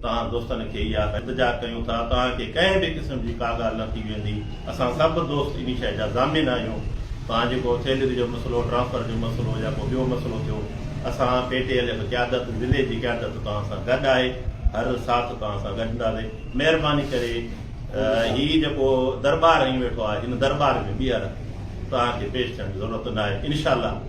توهان دوستن کي اها التجا ڪيون ٿا توهان کي ڪنهن به قسم جي ڪا ڳالهه نه ٿي ويندي اسان سڀ دوست انهي شئي جا ضامن آهيون توهان جيڪو سيلري جو مسئلو ٽرانسفر جو مسئلو يا ڪو ٻيو مسئلو ٿيو اسان پي ٽي ايل ايف قيادت ضلعي جي قيادت توهان سان گڏ آهي هر ساٿ توهان سان گڏ هونداسي مهرباني ڪري هي جيڪو درٻار هنئين ويٺو آهي هن درٻار ۾ ٻيهر توهان کي پيش ٿيڻ جي ضرورت نه آهي انشاء الله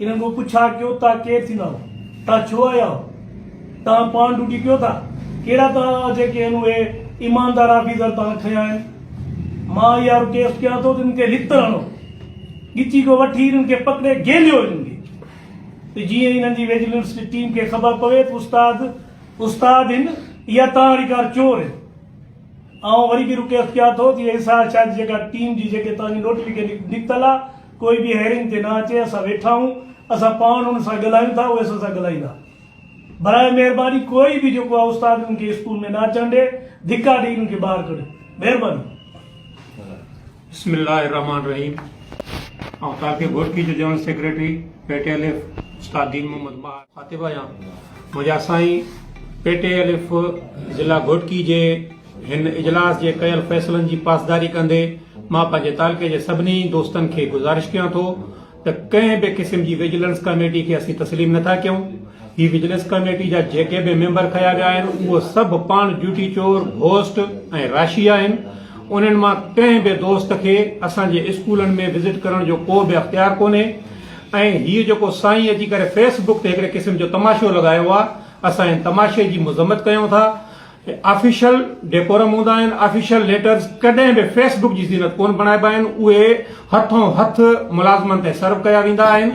انهن کان پڇا ڪيو تان ڪير ٿيندا آهو؟ تان ڇو آيا آهو؟ تان پاڻ ڊوٽي ڪيو ٿا؟ ڪهڙا تان آهو جيڪي هن اهي ايماندار آفيسر تان کنيا آهن؟ مان اها رڪيسٽ ڪيان ٿو ته انهن کي لتر هڻو. ڳچي کان وٺي انهن کي پڪڙي گهيليو انهن کي. ته جيئن انهن جي وجيلنس جي ٽيم کي خبر پوي ته استاد استاد هن يا تان اهڙي ڪار چور هن. آئون وري به رڪيسٽ ڪيان ٿو ته ايس آر شاهه جي جيڪا ٽيم جي جيڪي تان جي نوٽيفڪيشن نڪتل آهي، ڪوئي به هيئرنگ تي نه اچي اسان ويٺا آهيون اسان پاڻ ان سان ڳالهايون ٿا اهي اسان سان ڳالهائيندا براء مهرباني ڪوئي به جيڪو آهي استاد انهن کي اسڪول ۾ نه اچڻ ڏي ڌڪا ڏئي انهن کي ٻاهر ڪڍيو مهرباني بسم الله الرحمن الرحيم آئون تاڪي گورڪي جو جنرل سيڪريٽري پيٽي الف استاد دين محمد ماهر خاطب آهيان منهنجا سائين پيٽي الف ضلع گورڪي جي هن اجلاس جي ڪيل فيصلن جي پاسداري ڪندي مان پنهنجي تعلقي جي سڀني دوستن کي گذارش ڪيان ٿو ته ڪنهن به قسم جي وجيلنس ڪاميٽي کي اسين تسليم نٿا ڪيون. هي وجيلنس ڪاميٽي جا جيڪي به ميمبر کنيا ويا آهن اهي سڀ پاڻ جوتي چور، گهوسٽ ۽ راشي آهن. انهن مان ڪنهن به دوست کي اسان جي اسڪولن ۾ وزٽ ڪرڻ جو ڪو به اختيار ڪونهي ۽ هي جيڪو سائين اچي ڪري فيس بڪ تي هڪڙي قسم جو تماشو لڳايو آهي اسان ان تماشي جي مذمت ڪيون ٿا. هي آفيشل ڊيڪورم هوندا آهن، آفيشل ليٽرز ڪڏهن به فيس بڪ جي زينت ڪونه بڻائبا آهن، اهي هٿون هٿ ملازمن تي سرو ڪيا ويندا آهن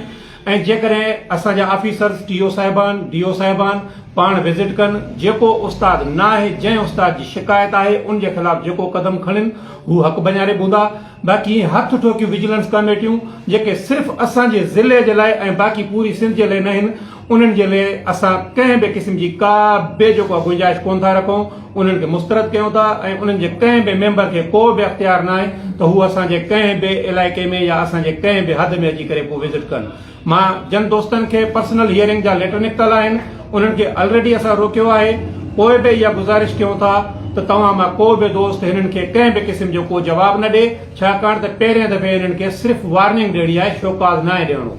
۽ جيڪڏهن اسان جا آفيسرز ٽي او صاحبان، ڊي او صاحبان پاڻ وزٽ ڪن، جيڪو استاد ناهي جنهن استاد جي شڪايت آهي ان جي خلاف جيڪو قدم کڻين هو حق بنياري بوندا. باقي اهي هٿ ٺوڪيون وجيلنس ڪاميٽيون جيڪي صرف اسان جي ضلعي جي لاء ۽ باقي پوري سنڌ جي لاء ناهن انهن جي لاء اسان ڪنهن به قسم جي ڪا به جيڪو آهي گنجائش ڪونه ٿا رکون انهن کي مسترد ڪيون ٿا ۽ انهن جي ڪنهن به ميمبر کي ڪو به اختيار ناهي ته هو اسان جي ڪنهن به علائقي ۾ يا اسان جي ڪنهن به حد ۾ اچي ڪري ڪو وزٽ ڪن مان جن دوستن کي پرسنل هيئرنگ جا ليٽر نڪتل آهن انهن کي الريڊي اسان روڪيو آهي پوء به اها گذارش ڪيون ٿا ته توهان مان ڪو به دوست هنن کي ڪنهن به قسم جو ڪو جواب نه ڏي ڇاڪاڻ ته پهرين دفعي هنن کي صرف وارننگ ڏيڻي آهي شوڪاز ناهي ڏيڻو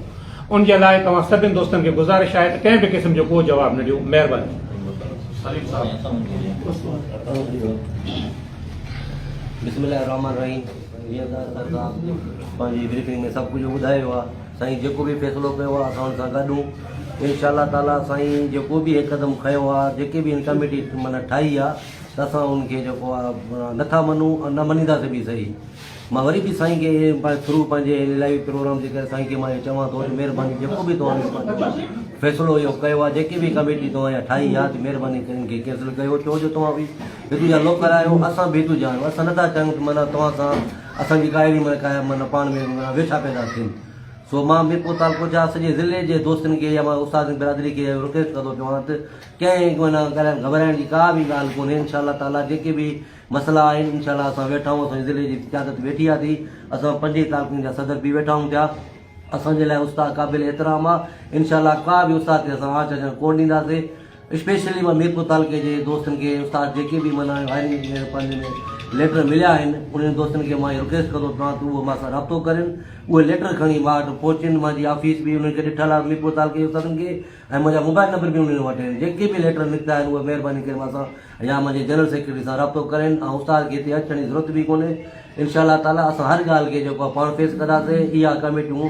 ان جي لاء توهان سڀني دوستن کي گذارش آهي ته ڪنهن به قسم جو ڪو جواب نه ڏيو مهرباني سائين جيڪو به فيصلو ڪيو آ اسان ان سان گڏ آهون انشاء الله تعالي سائين جيڪو به هي قدم کنيو آ جيڪي به هن ڪميٽي معنيٰ ٺاهي آ ته اسان ان کي جيڪو آ نٿا مڃون ۽ نه مڃينداسين به صحيح مان وري به سائين کي پنهنجي ٿرو پنهنجي هن الائي پروگرام جي ڪري سائين کي مان اهو چوان ٿو ته مهرباني جيڪو به توهان فيصلو اهو ڪيو آ جيڪي به ڪميٽي توهان اها ٺاهي آ ته مهرباني ڪري ان کي ڪينسل ڪيو ڇو جو توهان به هتو جا لوڪل آهيو اسان به هتو جا آهيون اسان نٿا چاهيون ته معنيٰ توهان سان اسان جي ڪاهڙي مان ڪاهيا معنيٰ پاڻ ۾ ويٺا پيدا ٿين سو مان به پوء تعلقو چاهه سڄي ضلعي جي دوستن کي يا مان استادن برادري کي اهو رڪويسٽ ڪندو پيو آهيان ته ڪنهن معنيٰ ڪڏهن گهٻرائڻ جي ڪا به ڳالهه ڪونهي انشاء الله تعالٰي جيڪي به مسئلا آهن انشاء الله اسان ويٺا آهيون اسان جي ضلعي جي قيادت ويٺي آهي ٿي اسان پنج ئي تعلقن جا صدر به ويٺا آهيون ٿيا اسان جي لاء استاد قابل احترام آهي انشاء الله ڪا به استاد کي اسان آنچ اچڻ ڪونه ڏينداسين اسپيشلي مان ميرپور تعلقي جي دوستن کي استاد جيڪي به معنيٰ وائرنگ ۾ پنهنجي ۾ ليٽر مليا آهن انهن دوستن کي مان اهي رڪويسٽ ڪندو ته تان ته اهي مان سان رابطو ڪرين اهي ليٽر کڻي مان وٽ پهچين منهنجي آفيس به انهن کي ڏٺل آهي ميرپور تعلقي جي استادن کي ۽ منهنجا موبائل نمبر به انهن وٽ آهن جيڪي به ليٽر نڪتا آهن اهي مهرباني ڪري مان سان يا منهنجي جنرل سيڪريٽري سان رابطو ڪرين ۽ استاد کي هتي اچڻ جي ضرورت به ڪونهي انشاء الله تعاليٰ اسان هر ڳالهه کي جيڪو آهي پاڻ فيس ڪنداسين اها ڪميٽيون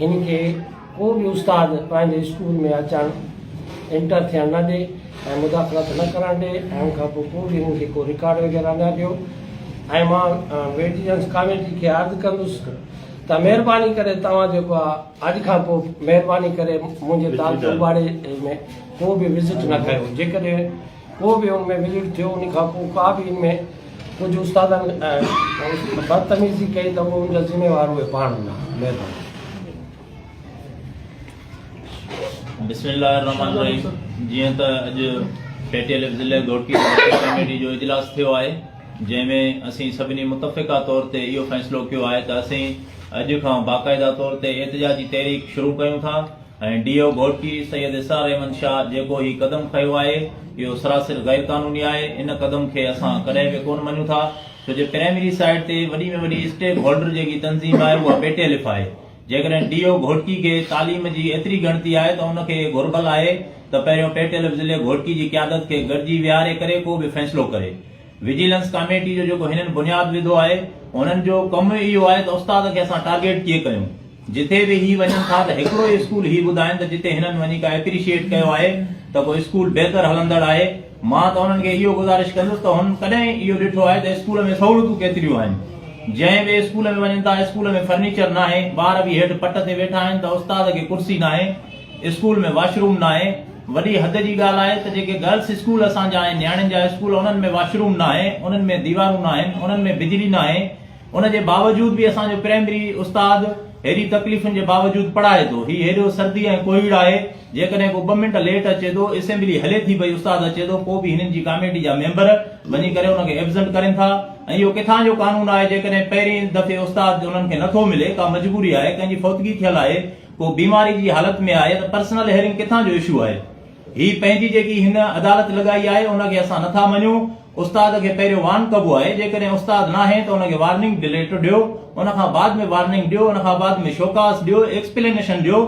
هن کي ڪو به استاد پنهنجي اسڪول ۾ اچڻ، انٽر ٿيڻ نه ڏي ۽ مداخلت نه ڪرڻ ڏي ۽ ان کان پوء ڪو به هن کي ڪو رڪارڊ وغيره نه ڏيو ۽ مان ويٽيجنس ڪاميٽي کي عرض ڪندس ته مهرباني ڪري توهان جيڪو آهي اڄ کان پوء مهرباني ڪري منهنجي تعلقي ٻاڙي ۾ ڪو به وزٽ نه ڪيو جيڪڏهن ڪو به ان ۾ وليڊ ٿيو ان کان پوء ڪا به ان ۾ ڪجهه استادن بدتميزي ڪئي ته ان جا ذميوار اهي پاڻ هوندا مهرباني بسم الله الرحمن الرحيم جيئن ته اڄ پي ٽي ايل ايف ضلع گهوٽڪي ڪميٽي جو اجلاس ٿيو آهي جنهن ۾ اسين سڀني متفقه طور تي اهو فيصلو ڪيو آهي ته اسين اڄ کان باقاعده طور تي احتجاجي تحريڪ شروع ڪيون ٿا ۽ ڊي او گهوٽڪي سيد اسرار احمد شاهه جيڪو هي قدم کنيو آهي اهو سراسر غير قانوني آهي ان قدم کي اسان ڪڏهن به ڪونه مڃون ٿا ڇو جو پرائمري سائيٽ تي وڏي ۾ وڏي اسٽيڪ هولڊر جيڪي تنظيم آهي اها پي ٽي الف آهي جيڪڏهن ڊي او گهوٽڪي کي تعليم جي ايتري ڳڻتي آهي ته ان کي گهربل آهي ته پهريون پي ٽي الف ضلعي گهوٽڪي جي قيادت کي گڏجي ويهاري ڪري ڪو به فيصلو ڪري وجيلنس ڪاميٽي جو جيڪو هنن بنياد وڌو آهي هنن جو ڪم اهو آهي ته استاد کي اسان ٽارگيٽ ڪيئن ڪيون. جتي به هي وڃن ٿا ته هڪڙو ئي اسڪول هي ٻڌائين ته جتي هنن وڃي ڪا اپريشيئيٽ ڪيو آهي ته ڪو اسڪول بهتر هلندڙ آهي. مان ته هنن کي اهو گذارش ڪندس ته هنن ڪڏهن اهو ڏٺو آهي ته اسڪول ۾ سهولتون ڪيتريون آهن. جنهن به اسڪول ۾ وڃن ٿا اسڪول ۾ فرنيچر ناهي، ٻار به هيٺ پٽ تي ويٺا آهن ته استاد کي ڪرسي ناهي، اسڪول ۾ واشروم ناهي. وڏي حد جي ڳالهه آهي ته جيڪي گرلس اسڪول اسان جا آهن نياڻين جا اسڪول انهن ۾ واشروم ناهي، انهن ۾ ديوارون ناهن، انهن ۾ بجلي ناهي. ان جي باوجود به اسان جو پرائمري استاد هيڏي تڪليفن جي باوجود پڙهائي ٿو. هي هيڏو سردي ۽ ڪوهيڙ آهي، جيڪڏهن ڪو ٻه منٽ ليٽ اچي ٿو، اسيمبلي هلي ٿي پئي، استاد اچي ٿو، پوء به هنن جي ڪاميٽي جا ميمبر وڃي ڪري ان کي ايبسنٽ ڪرين ٿا ۽ اهو ڪٿان جو قانون آهي، جيڪڏهن پهرين دفعي استاد انهن کي نٿو ملي، ڪا مجبوري آهي، ڪنهن جي فوتگي ٿيل آهي، ڪو بيماري جي حالت ۾ آهي ته پرسنل هيئرنگ ڪٿان جو اشو آهي. هي پنهنجي جيڪي هن عدالت لڳائي آهي، ان کي اسان نٿا مڃون. استاد کي پهريون وارن ڪبو آهي جيڪڏهن استاد ناهي ته ان کي وارننگ ڊليٽ ڏيو ان کان بعد ۾ وارننگ ڏيو ان کان بعد ۾ شوڪاز ڏيو ايڪسپلينيشن ڏيو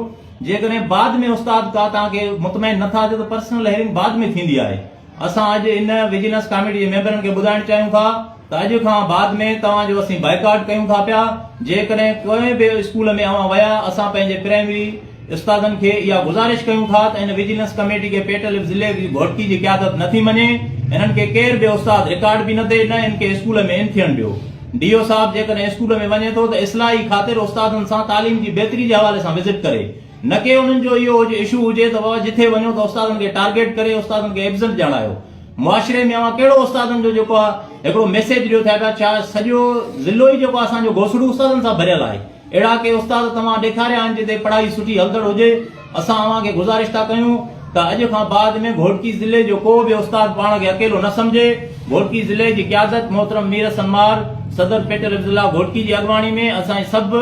جيڪڏهن بعد ۾ استاد ڪا توهان کي مطمئن نٿا ٿيو ته پرسنل هيئرنگ بعد ۾ ٿيندي آهي اسان اڄ ان وجيلنس ڪاميٽي جي ميمبرن کي ٻڌائڻ چاهيون ٿا ته اڄ کان بعد ۾ توهان جو اسين بائيڪاٽ ڪيون ٿا پيا جيڪڏهن ڪنهن به اسڪول ۾ اوهان ويا اسان پنهنجي پرائمري استادن کي اها گذارش ڪيون ٿا ته ان وجيلنس ڪميٽي کي پيٽليپ ضلعي جي گهوٽڪي جي قيادت نه ٿي مڃي هنن کي ڪير به استاد رڪارڊ به نه ڏئي نه هن کي اسڪول ۾ ان ٿيڻ ڏيو ڊي او صاحب جيڪڏهن اسڪول ۾ وڃي ٿو ته اصلاحي خاطر استادن سان تعليم جي بهتري جي حوالي سان وزٽ ڪري نڪي انهن جو اهو هجي اشو هجي ته بابا جٿي وڃو ته استادن کي ٽارگيٽ ڪري استادن کي ايبسنٽ ڄاڻايو معاشري ۾ اوهان ڪهڙو استادن جو جيڪو آهي هڪڙو ميسيج ڏيو ٿا پيا ڇا سڄو ضلعو ئي جيڪو اسان جو گهوسڙو استادن سان ڀريل آهي اهڙا ڪي استاد توهان ڏيکاريا آهن جتي پڙهائي سٺي هلندڙ هجي، اسان اوهان کي گذارش ٿا ڪيون ته اڄ کان بعد ۾ گهوٽڪي ضلعي جو ڪو به استاد پاڻ کي اڪيلو نه سمجهي، گهوٽڪي ضلعي جي قيادت محترم مير حسن مار صدر پيٽل حفظ الله گهوٽڪي جي اڳواڻي ۾ اسان سڀ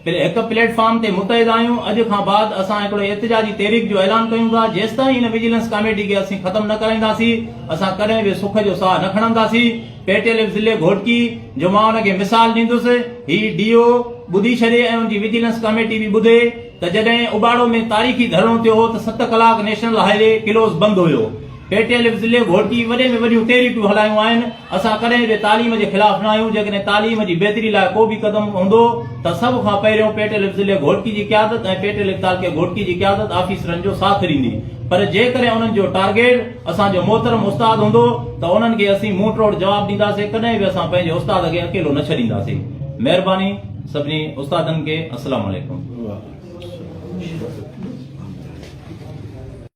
هڪ پليٽ فارم تي متحد آهيون، اڄ کان بعد اسان هڪڙي احتجاجي تحريڪ جو اعلان ڪيون ٿا جيستائين هن وجيلنس ڪاميٽي کي اسين ختم نه ڪرائينداسين اسان ڪڏهن به سک جو ساهه نه کڻنداسين. پيٽيليم ضلعي گهوٽڪي جو مان ان کي مثال ڏيندس، هي ڊي او ٻڌي ڇڏي ۽ ان جي وجيلنس ڪاميٽي به ٻڌي ته جڏهن اباڙو ۾ تاريخي ڌرڻو ٿيو هو ته ست ڪلاڪ نيشنل هاء وي ڪلوز بند هيو. پيٽيليم ضلعي گهوٽڪي وڏين ۾ وڏيون ٽي ريٽون هلايون آهن، اسان ڪڏهن به تعليم جي خلاف نه آهيون، جيڪڏهن تعليم جي بهتري لاء ڪو به قدم هوندو ته سڀ کان پهريون پيٽيليم ضلعي گهوٽڪي جي قيادت ۽ پيٽيليم تعلقي گهوٽڪي جي قيادت آفيسرن جو ساٿ ڏيندي پر جيڪڏهن انهن جو ٽارگيٽ اسان جو محترم استاد هوندو ته انهن کي اسين منهن ٽوڙ جواب ڏينداسين ڪڏهن به اسان پنهنجي استاد اڳي اڪيلو نه ڇڏينداسين مهرباني سڀني استادن کي السلام عليڪم.